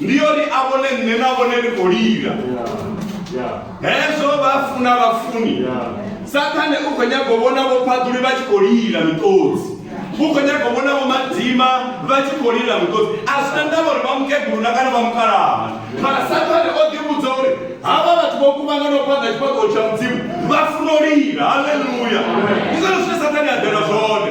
ndi yone a vhone nṋe na vhone ndi khou lila hezwo vha funa vhafuni sathane u khou nyaga u vhona vho phaḓuli vha tshi khou lila miṱodzi u khou nyaga u vhona vho madima vha tshi khou lila miṱodzi a zwi na ndavha uri vha mukeguluna kana vha mukalaha mara sathane o ḓivhudza uri havha vhathu vho kuvhangana u fhaḓa tshifhaṱuwo tsha mudzimu vha funa u lila halleluya ndi zwone zwine sathane a ḓela zwone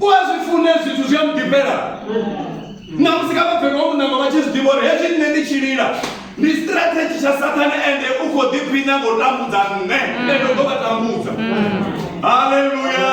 u a zwi fune zwithu zwi a mu ḓifhela na musi kha vhabebi wa munanga vha tshi zwi ḓivha uri hezwi nṋe ndi tshi lila ndi strategy tsha sathane ende u khou ḓiphina ngo tambudza nṋe ende u ḓo vha tambudza haleluya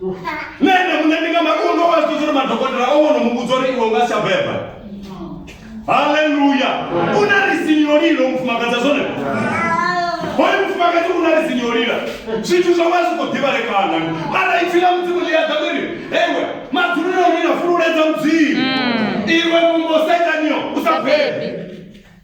nṋe ene muṋe ndi nga mafhungo nga vha zwi uri madokotela o wono muvhudza uri iwe u nga si a beba haleluya u na risini yo lilo mufumakadzi a zwone hoyo mufumakadzi u na risini yo lila zwithu zwo vha zwi khou ḓivhalekana mara ipfi ḽa mudzimu ḽi a ḓa ḽiri ewe madzuluni o lila fululedza mudzimu iwe vhumbo setanio u sa bebe